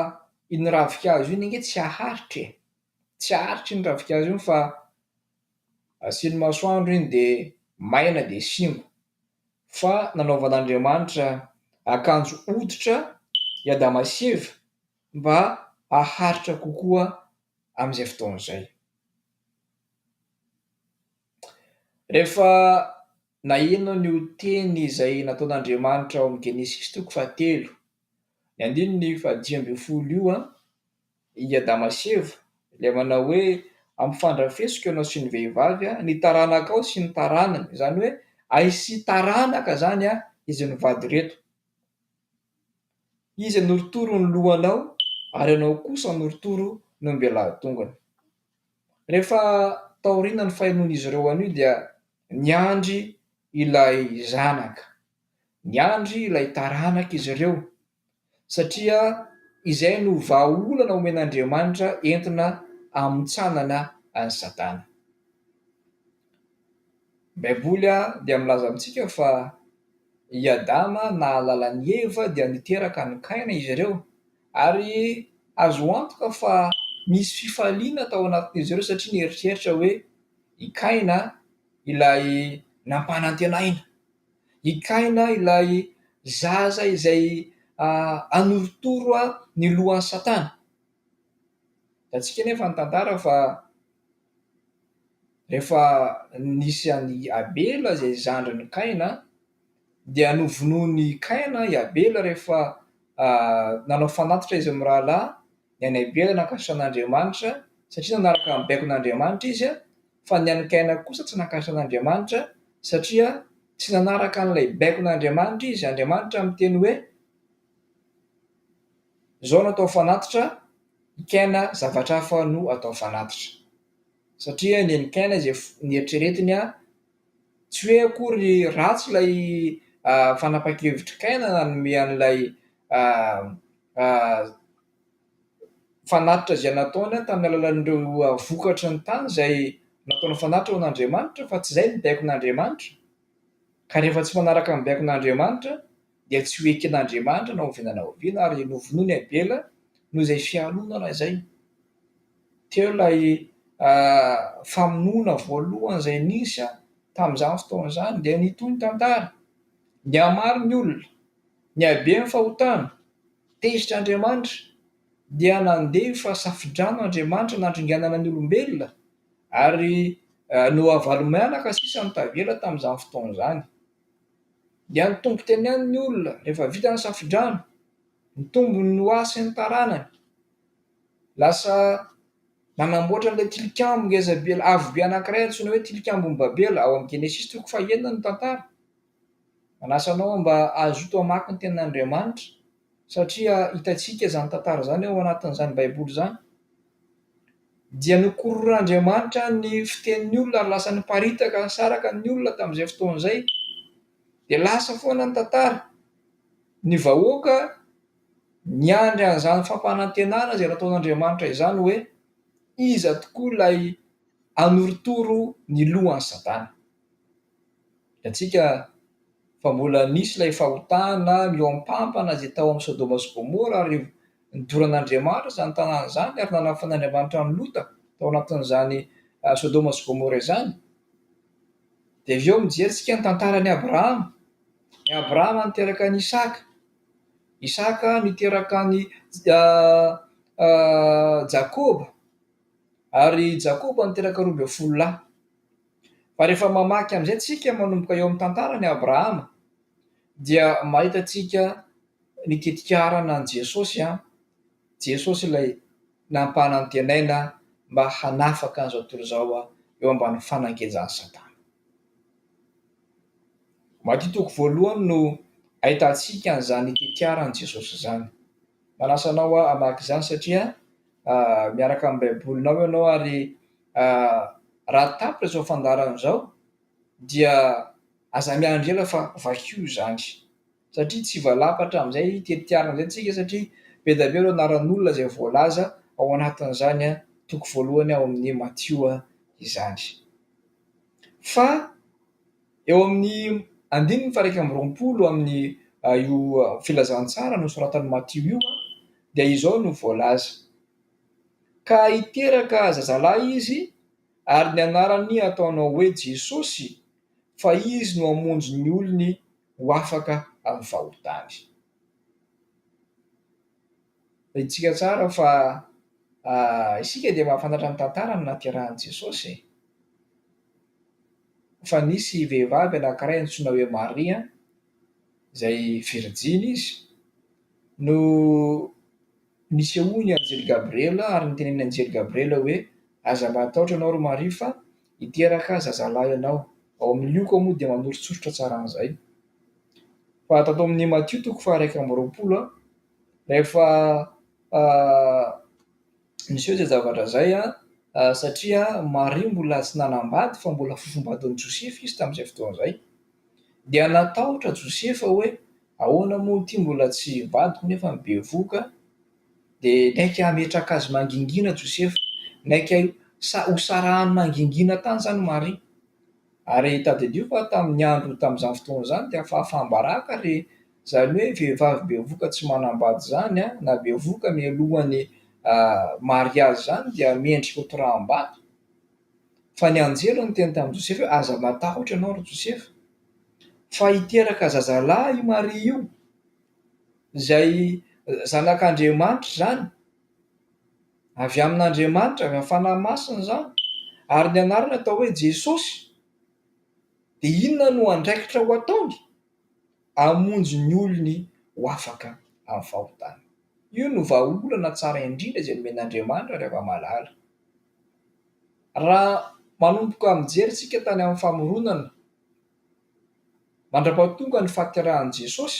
iny ravinkazo iny ange tsy haharitra e! Tsy haharitra iny ravinkazo iny fa asiany masoandro iny dia maina dia simba. Fa nanaovan'Andriamanitra akanjo hoditra i Adama sy Eva mba haharitra kokoa amin'izay fotoana izay. Rehefa Na inona ny ho teny izay nataon'Andriamanitra ao amin'ny Genesisy toko fahatelo, ny andininy fahadimy ambin'ny folo io, i Adama sy Eva, ilay manao hoe, Ampifandrafesiko ianao sy ny vehivavy, ny taranakao sy ny taranany, izany hoe aisy taranaka izany izy mivady ireto. Izy hanorotoro ny lohanao ary ianao kosa hanorotoro ny ombelahatongony. Rehefa taorianan'ny fahenoan'izy ireo an'io dia niandry ilay zanaka, niandry ilay taranaka izy ireo satria izay no vahaolana omen'Andriamanitra entina hamontsanana an'i Satana. Ny Baiboly dia milaza amintsika fa i Adama nahalala an'i Eva dia niteraka an'i Kaina izy ireo, ary azo antoka fa nisy fifaliana tao anatin'izy ireo satria nieritreritra hoe i Kaina ilay nampanantenaina, i Kaina ilay zaza izay hanorotoro ny lohan'i Satana. Hitantsika anefa ny tantara fa rehefa nisy an'i Abela izay zandrin'i Kaina dia novonoin'i Kaina i Abela rehefa nanao fanatitra izy mirahalahy ny an'i Abela nankasitraka an'Andriamanitra satria nanaraka ny baikon'Andriamanitra izy fa ny an'i Kaina kosa tsy nankasitraka an'Andriamanitra satria tsy nanaraka an'ilay baikon'Andriamanitra izy, Andriamanitra miteny hoe. Zao no atao fanatitra, ny kena zavatra hafa no atao fanatitra. Satria nen'i kena izay nieritreretiny an, tsy hoe akory ratsy ilay fanapahan-kevitr'i kena nanome an'ilay fanatitra izay nataony tamin'ny alalan'ireo vokatry ny tany izay nataony fanatitra ho an'Andriamanitra fa tsy izay no nibaiko an'Andriamanitra. Ka rehefa tsy manaraka ny baikon'Andriamanitra dia tsy ho eken'Andriamanitra na oviana na oviana ary novonoin'i Abela noho izay fialonana izay. Teo ilay famonoana voalohany izay nisy tamin'izany fotoana izany dia nitohy ny tantara. Nihamaro ny olona, nihabe ny fahotana, tezitra Andriamanitra dia nandefa safodrano Andriamanitra nandringanana ny olombelona. Ary nohavalomianaka sisa ny tavela tamin'izany fotoana izany. Dia nitombo teny ihany ny olona rehefa vita ny safodrano. Nitombo ny ho ahy sy ny taranany. Lasa nanamboatra an'ilay tilikambo ngezabe avo be anankiray antsoina hoe Tilikambon'i Babela ao amin'ny Genesisy toko fahenina ny tantara. Manasa anao mba hazoto hamaky ny Tenin'Andriamanitra satria hitantsika izany tantara izany ao anatin'izany Baiboly izany. Dia nokororoan'Andriamanitra ny fitenin'ny olona ary lasa niparitaka nisaraka ny olona tamin'izay fotoana izay. Dia lasa foana ny tantara. Ny vahoaka niandry an'izany fampanantenana izay nataon'Andriamanitra izany hoe iza tokoa ilay hanorotoro ny lohan'i Satana. Hitantsika fa mbola nisy ilay fahotana mihoampampana izay tao amin'i Sodoma sy Gomora ary nidoran'Andriamanitra izany tanàna izany ary nanafan'Andriamanitra an'i Lota tao anatin'izany Sodoma sy Gomora izany. Dia avy eo mijery isika ny tantaran'i Abrahama. I Abrahama niteraka an'i Isaka. Isaka niteraka an'i Jakoba ary Jakoba niteraka roa ambin'ny folo lahy. Fa rehefa mamaky amin'izay tsika manomboka eo amin'ny tantaran'i Abrahama dia mahita tsika ny tetikarana an'i Jesosy an, Jesosy ilay nampanantenaina mba hanafaka an'izao tontolo izao eo ambany fanangenjan'i Satana. Matio toko voalohany no ahitantsika an'izany tetiaran'i Jesosy izany. Manasa anao hamaky izany satria miaraka amin'ny Baibolinao ianao ary Raha tapitra izao fandaharana izao dia aza miandry ela fa vakio izany satria tsy valapatra amin'izay tetiarana izay tsika satria be dia be ireo anaran'olona izay voalaza ao anatin'izany toko voalohany ao amin'ny Matio izany. Fa eo amin'ny andininy faha-iraika amby roapolo amin'ny io filazantsara nosoratan'i Matio io dia izao no voalaza, Ka hiteraka zazalahy izy, ary ny anarany hataonao hoe Jesosy, fa izy no hamonjy ny olony ho afaka amin'ny fahotany. Rahintsika tsara fa isika dia mahafantatra ny tantaran'ny nahaterahan'i Jesosy e! Fa nisy vehivavy anankiray antsoina hoe Maria, izay virijiny izy, no Nisehoan'ny anjely Gabriela ary nitenenin'ny anjely Gabriela hoe, Aza matahotra ianao ry Maria fa hiteraka zazalahy ianao, ao amin'ny lioka moa dia manoritsoritra tsara an'izay. Fa tato amin'ny Matio toko faharaika amby roapolo, rehefa niseho izay zavatra izay, satria Maria mbola tsy nanambady fa mbola fofombadin'i Josefa izy tamin'izay fotoana izay, Dia natahotra Josefa hoe ahoana moa ity mbola tsy vadiko nefa ny bevohoka dia niaiky hametraka azy mangingina Josefa, niaiky ho sarahany mangingina tany izany Maria. Ary tadidio fa tamin'ny andro tamin'izany fotoana izany dia fahafaham-baraka ary izany hoe vehivavy bevohoka tsy manambady izany na bevohoka mialohan'ny mariazy izany dia mendrika ho toraham-bato. Fa ny anjely no niteny tamin'i Josefa hoe, Aza matahotra ianao, ry Josefa, fa hiteraka zazalahy i Maria io, izay zanak'Andriamanitra izany, avy amin'Andriamanitra, avy amin'ny Fanahy Masina izany, ary ny anarany atao hoe Jesosy. Dia inona no andraikitra ho ataony? Hamonjy ny olony ho afaka amin'ny fahotany. Io no vahaolana tsara indrindra izay nomen'Andriamanitra ry Ravamalala. Raha manomboka mijery isika tany amin'ny famoronana mandra-pahatonga ny fahaterahan'i Jesosy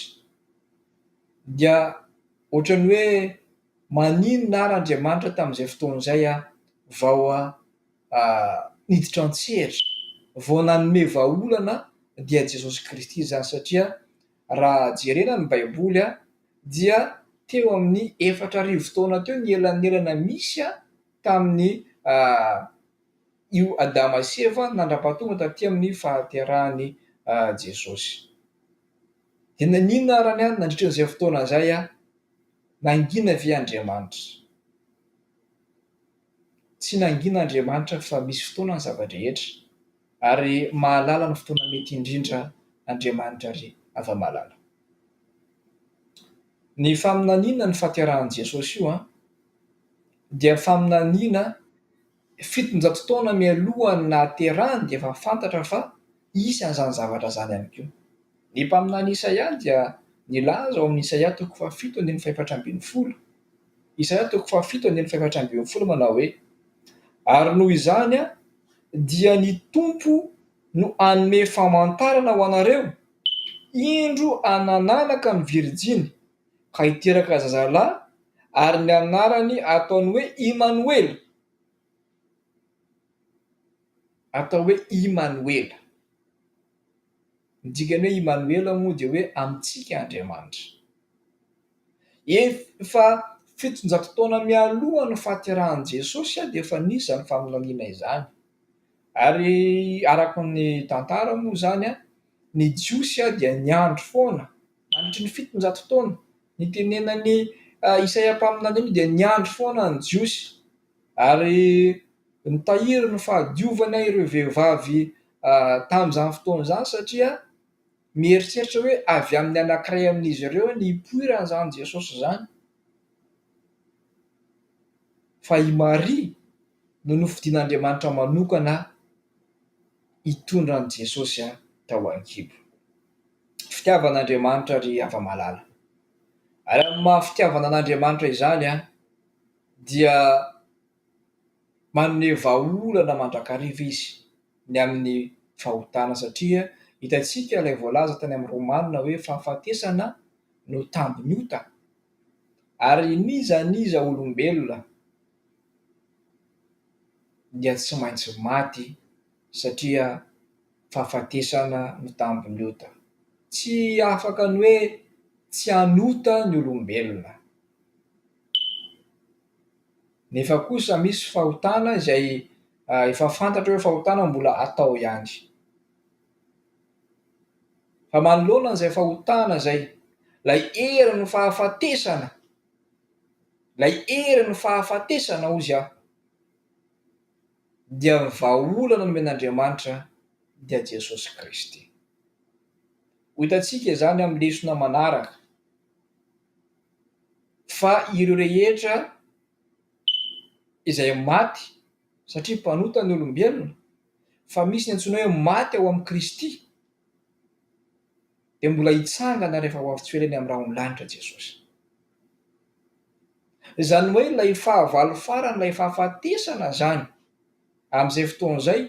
dia ohatran'ny hoe maninona ary Andriamanitra tamin'izay fotoana izay vao niditra an-tsehatra, vao nanome vahaolana dia Jesosy Kristy izany satria raha jerena ny baiboly dia teo amin'ny efatra arivo taona teo ny elanelana misy. tamin'ny io Adama sy Eva nandra-pahatonga taty amin'ny fahaterahan'i Jesosy. Dia naninona àry ny ahy nandritra an'izay fotoana izay aho? Nangina ve Andriamanitra? Tsy nangina Andriamanitra fa misy fotoana ny zava-drehetra ary mahalala ny fotoana mety indrindra Andriamanitra ry hava-malala. Ny faminaniana ny fahaterahan'i Jesosy io an! dia faminaniana fitonjato taona mialoha ny nahaterahany dia efa fantatra fa hisy an'izany zavatra izany ihany koa. Ny mpaminany Isaia dia nilaza ao amin'ny Isaia toko fahafito andininy fahefatra ambin'ny folo, Isaia toko fahafito andininy fahefatra ambin'ny folo manao hoe, Ary noho izany dia ny Tompo no hanome famantarana ho anareo, Indro anananaka ny virjiny, ka hiteraka zazalahy, ary ny anarany ataony hoe Imanoela, atao hoe Imanoela, ny dikany hoe Imanoela moa dia hoe amintsika Andriamanitra. Efa fitonjato taona mialoha ny fahaterahan'i Jesosy dia efa nisy izany faminaniana izany, ary araka ny tantara moa izany, ny Jiosy dia niandry foana, Nandritry ny fitonjato taona, ny tenenan'i Isaia mpaminany iny dia niandry foana ny Jiosy, ary nitahiry ny fahadiovana ireo vehivavy tamin'izany fotoana izany, satria mieritreritra hoe avy amin'ny anankiray amin'izy ireo ny hipoiran'izany Jesosy izany, fa i Maria no nofidin'Andriamanitra manokana hitondra an'i Jesosy tao an-kibo. fitiavan'Andriamanitra ry hava-malala. Ary amin'ny maha fitiavana an'Andriamanitra izany an, dia manome vahaolana mandrakariva izy ny amin'ny fahotana satria hitantsika ilay voalaza tany amin'ny Romana hoe fahafatesana no tambin'ny ota ary n'iza n'iza olombelona dia tsy maintsy maty satria fahafatesana no tambin'ny ota. Tsy afaka ny hoe tsy hanota ny olombelona. Nefa kosa misy fahotana izay efa fantatra hoe fahotana mbola atao ihany. Fa manoloana an'izay fahotana izay, ilay herin'ny fahafatesana, ilay herin'ny fahafatesana hozy aho, dia ny vahaolana nomen'Andriamanitra dia Jesosy Kristy. Ho hitantsika izany amin'ny lesona manaraka fa ireo rehetra izay maty satria mpanota ny olombelona fa misy ny antsoina hoe maty ao amin'i Kristy. dia mbola hitsangana rehefa ho avy tsy ho ela eny amin'ny rahon'ny lanitra Jesosy. Izany hoe ilay fahavalo faran'ilay fahafatesana izany, amin'izay fotoana izay,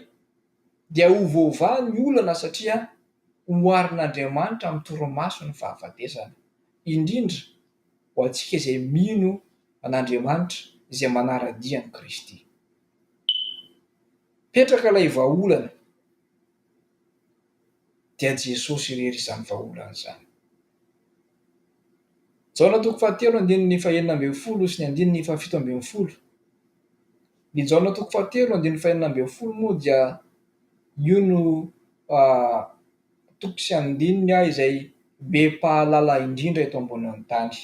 dia ho voavaha ny olana satria oharin'Andriamanitra amin'ny torimaso ny fahafatesana, indrindra ho antsika izay mino an'Andriamanitra izay manara-dia an'i Kristy. Petraka ilay vahaolana. dia Jesosy irery izany vahaolana izany. Jaona toko fahatelo andininy fahenina ambin'ny folo sy ny andininy fahafito ambin'ny folo. Ny Jaona toko fahatelo andininy fahenina ambin'ny folo moa dia io no toko sy andininy izay be mpahalala indrindra eto ambonin'ny tany.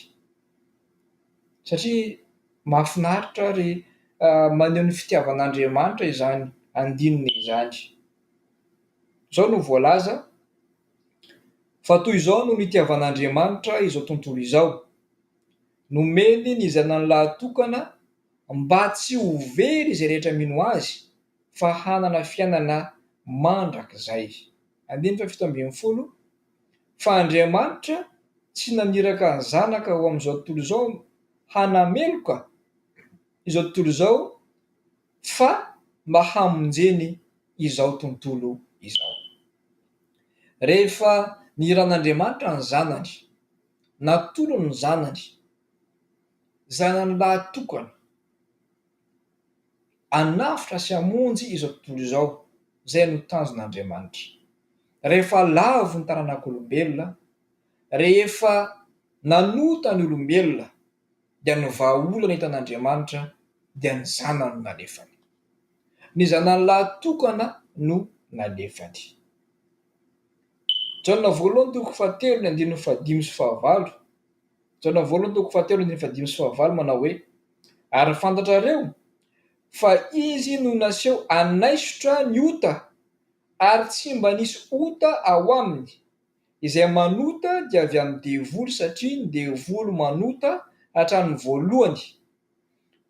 satria mahafinaritra ary maneho ny fitiavan'Andriamanitra izany andininy izany. Izao no voalaza, fa toy izao no nitiavan'Andriamanitra izao tontolo izao, nomeny ny Zanany lahatokana mba tsy ho very izay rehetra mino Azy, fa hanana fiainana mandrakizay. Fa Andriamanitra tsy naniraka ny Zanaka ho amin'izao tontolo izao mba hanameloka izao tontolo izao fa mba hamonjeny izao tontolo izao. Rehefa nihiran'Andriamanitra ny Zanany, natolony ny Zanany, Zanany lahy tokana, Hanavotra sy hamonjy izao tontolo izao, izay no tanjon' Andriamanitra. Rehefa lavo ny taranak' olombelona, rehefa nanota ny olombelona, dia ny vahaolana hitan' Andriamanitra dia ny Zanany no nalefany. Ny Zanany lahatokana no nalefany. Jaona voalohany toko fahatelo ny andininy fahadimy sy fahavalo. Jaona voalohany toko fahatelo andininy fahadimy sy fahavalo manao hoe, Ary fantatrareo fa izy no naseho hanaisotra ny ota, ary tsy mba nisy ota ao aminy. Izay manota dia avy amin'ny devoly, satria ny devoly manota hatramin'ny voalohany.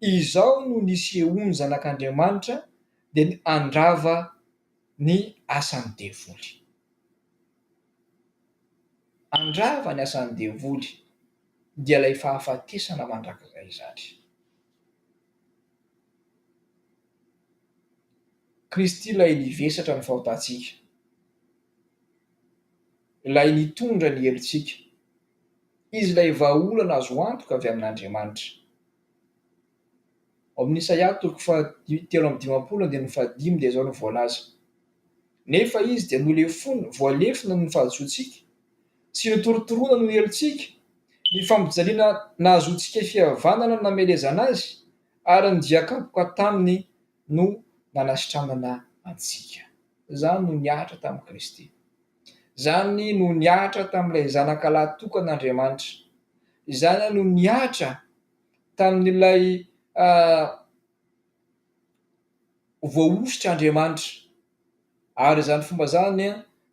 Izao no nisehoan'ny Zanak'Andriamanitra, dia ny handrava ny asan'ny devoly. Handrava ny asan'ny devoly, dia ilay fahafatesana mandrakizay izany. Kristy ilay nivesatra ny fahotantsika, ilay nitondra ny helotsika, Izy ilay vahaolana azo antoka avy amin'Andriamanitra. Ao amin'ny Isaia toko faha telo amby dimampolo andininy faha dimy dia izao no voalaza, Nefa izy dia nolefona, voalefona noho ny fahadisoantsika, sy notorotoroina noho ny helotsika, ny fampijaliana nahazoantsika fihavanana no namelezana azy, ary ny dian-kapoka taminy no nanasitranana antsika. Izany no nihatra tamin'i Kristy. Izany no nihatra tamin'ilay Zanakalahy tokan'Andriamanitra. Izany no nihatra. tamin'ilay voahosotr' Andriamanitra, ary izany fomba izany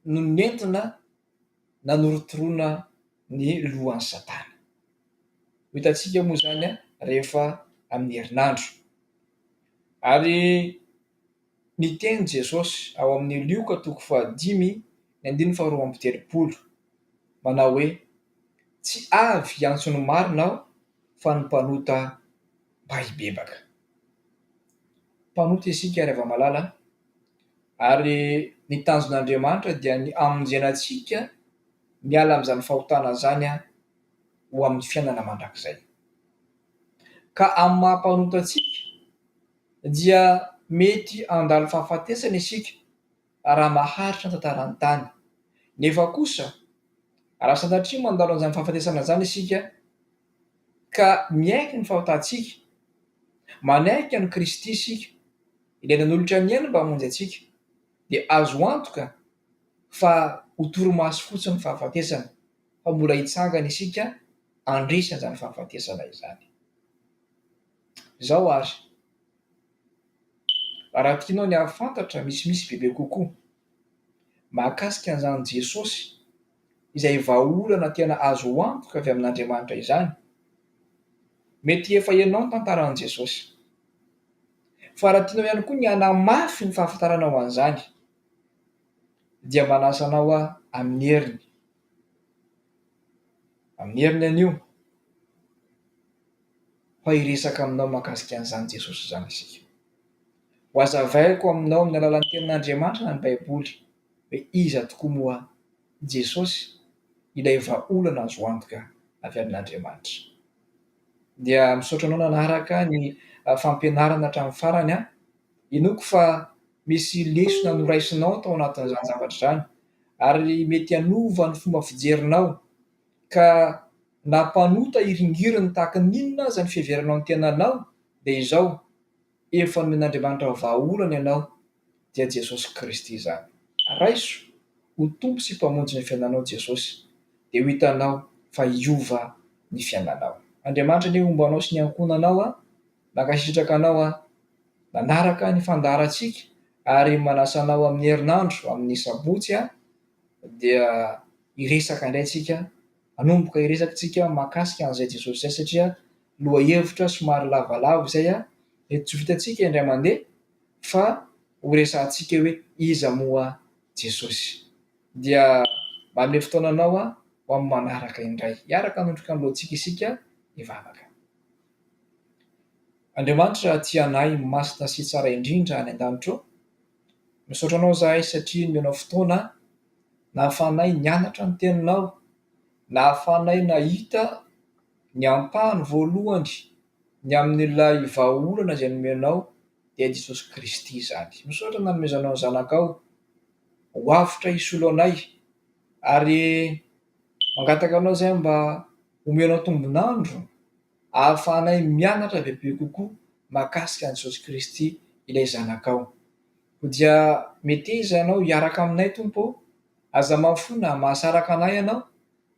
no nentina nanorotoroana ny lohan'i Satana. Ho hitantsika moa izany rehefa amin'ny herinandro. Ary. Niteny Jesosy ao amin'ny Lioka toko fahadimy ny andininy faharoa amby telopolo, manao hoe, Tsy avy hiantso ny marina Aho, fa ny mpanota mba hibebaka. Mpanota isika, ry hava-malala, ary ny tanjon'Andriamanitra dia ny hamonjena antsika miala amin'izany fahotana izany ho amin'ny fiainana mandrakizay. Ka amin'ny maha-mpanota antsika, dia mety handalo fahafatesana isika raha maharitra ny tantaran'ny tany. Nefa kosa, raha sanatria mandalo an'izany fahafatesana izany isika ka miaiky ny fahotantsika, manaiky an'i Kristy isika, Ilay nanolotra ny ainy mba hamonjy antsika, dia azo antoka fa ho torimaso fotsiny ny fahafatesana, fa mbola hitsangana isika handresy an'izany fahafatesana izany. Izao ary, raha tianao ny hahafantatra misimisy bebe kokoa mahakasika an'izany Jesosy izay vahaolana tena azo antoka avy amin'Andriamanitra izany, mety efa henao ny tantaran'i Jesosy. Fa raha tianao ihany koa ny hanamafy ny fahafantaranao an'izany, dia manasa anao aho amin'ny heriny, amin'ny heriny anio. fa hiresaka aminao mahakasika an'izany Jesosy izany isika. Ho hazavaiko aminao amin'ny alalan'ny tenin'Andriamanitra ny Baiboly hoe iza tokoa moa Jesosy ilay vahaolana azo antoka avy amin'Andriamanitra. Dia misaotra anao nanaraka ny fampianarana hatramin'ny farany aho. Inoako fa misy lesona noraisinao tao anatin'izany zavatra izany ary mety hanova ny fomba fijerinao Ka na mpanota hiringiriny tahaka ny inona aza ny fiheveranao ny tenanao dia izao, efa nomen'Andriamanitra vahaolana ianao, dia Jesosy Kristy izany. Raiso ho Tompo sy Mpamonjy ny fiainanao Jesosy, dia ho hitanao fa hiova ny fiainanao. Andriamanitra anie homba anao sy ny ankohonanao an! Mankasitraka anao an! Manaraka ny fandaharantsika ary manasa anao amin'ny herinandro amin'ny sabotsy an! Dia. hiresaka indray tsika, hanomboka hiresaka tsika mahakasika an'izay Jesosy izay satria lohahevitra somary lavalava izay mety tsy ho vitantsika indray mandeha fa horesahantsika hoe iza moa Jesosy. Dia manome fotoana anao ho amin'ny manaraka indray. Hiaraka hanondroka ny lohantsika isika hivavaka. Andriamanitra tia anay masina sy tsara indrindra any an-danitro, Misaotra anao izahay satria nomenao fotoana nahafahanay nianatra ny teninao, nahafahanay nahita ny ampahany voalohany ny amin'ilay vahaolana izay nomenao dia Jesosy Kristy izany. Misaotra nanomezanao ny zanakao ho avotra hisolo anay ary mangataka anao izahay mba homenao tombon'andro. ahafahanay mianatra bebe kokoa mahakasika an'i Jesosy Kristy ilay Zanakao. Koa dia meteza Ianao hiaraka aminay, Tompo ô! Aza mafona, mahasaraka anay Ianao,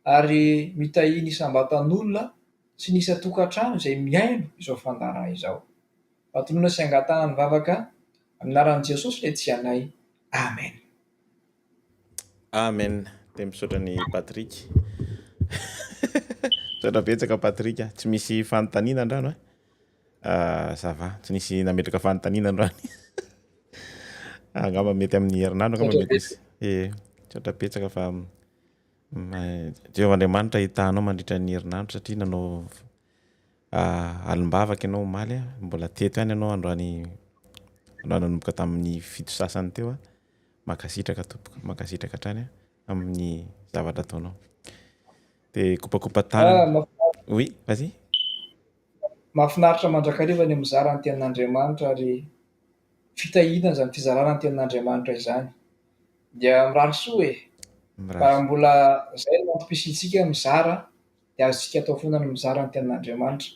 ary mitahia ny isam-batan'olona sy ny isan-tokantrano izay mihaino izao fandaharana izao. Matonona sy angatahana ny vavaka, amin'ny anaran'i Jesosy ilay Tsy anay. Amen. Amen de misaotra an'i Patrick misaotra betsaka Patrick a, tsy misy fanontaniana andrano e, ça va tsy nisy nametraka fanontaniana andrano angamba mety amin'ny herinandro angamba mety hisy ee, misaotra betsaka fa Jehovah Andriamanitra hitanao mandritra ny herinandro satria nanao alim-bavaka ianao omaly a, mbola teto ihany ianao androany androany nanomboka tamin'ny fito sasany teo a, Mankasitraka tompoko, mankasitraka hatrany amin'ny zavatra ataonao. Dia kopakopa tanana. Oui, vas-y. Mahafinaritra mandrakariva ny mizara ny tenin'Andriamanitra ary fitahiana izany fizarana ny tenin'Andriamanitra izany. Dia mirary soa e! Raha mbola izay no antom-pisiantsika mizara dia azontsika atao foana ny mizara ny tenin'Andriamanitra.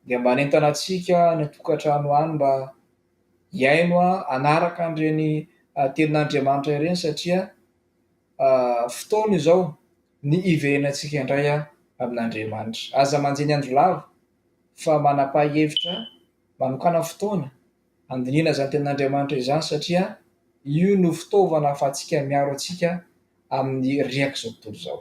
Dia mba hanentana antsika any an-tokantrano any mba hihaino hanaraka an'ireny tenin'Andriamanitra ireny satria fotoana izao ny hiverenantsika indray amin'Andriamanitra. Aza manjiny andro lava fa manam-pahihevitra manokàna fotoana handinihana izany tenin'Andriamanitra izany satria io no fitaovana ahafahantsika miaro antsika amin'ny riak'izao tontolo izao.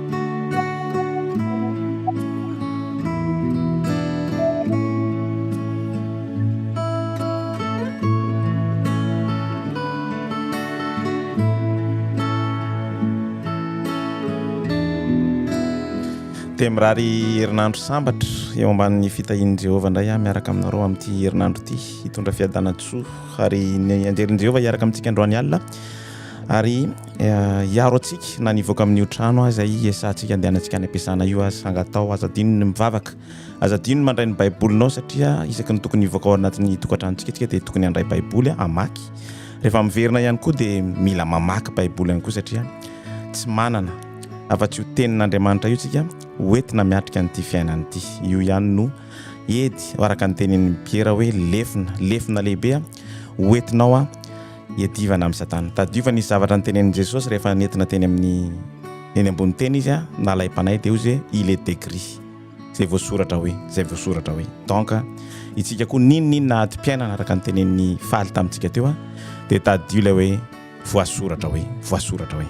dia mirary herinandro sambatra eo ambanin'ny fitahian'i Jehovah indray aho miaraka aminareo amin'ity herinandro ity hitondra fiadanana soa ary ny anjelin'i Jehovah hiaraka amintsika androany alina ary hiaro antsika na ny hivoaka amin'io trano aza i esantsika andehanantsika any am-piasana io aza sanga atao aza adino ny mivavaka aza adino mandray ny baibolinao satria isaky ny tokony hivoaka ao anatin'ny tokantranontsika tsika dia tokony handray baiboly hamaky rehefa miverina ihany koa dia mila mamaky baiboly ihany koa satria tsy manana afa-tsy ho tenin'andriamanitra io tsika hoentina miatrika an'ity fiainana ity io ihany no edy araka ny tenin'ny piera hoe lefona lefona lehibe hoentinao a iadivana amin'i Satana. Tadidio fa nisy zavatra notenenin'i Jesosy rehefa nentina teny amin'ny eny ambony teny izy a, na ilay mpanahy dia hoy izy hoe il est écrit, izay voasoratra hoe, izay voasoratra hoe. Donc itsika koa n'inon'inona adim-piainana araka ny tenenin'i Faly tamintsika teo a, dia tadidio ilay hoe voasoratra hoe, voasoratra hoe.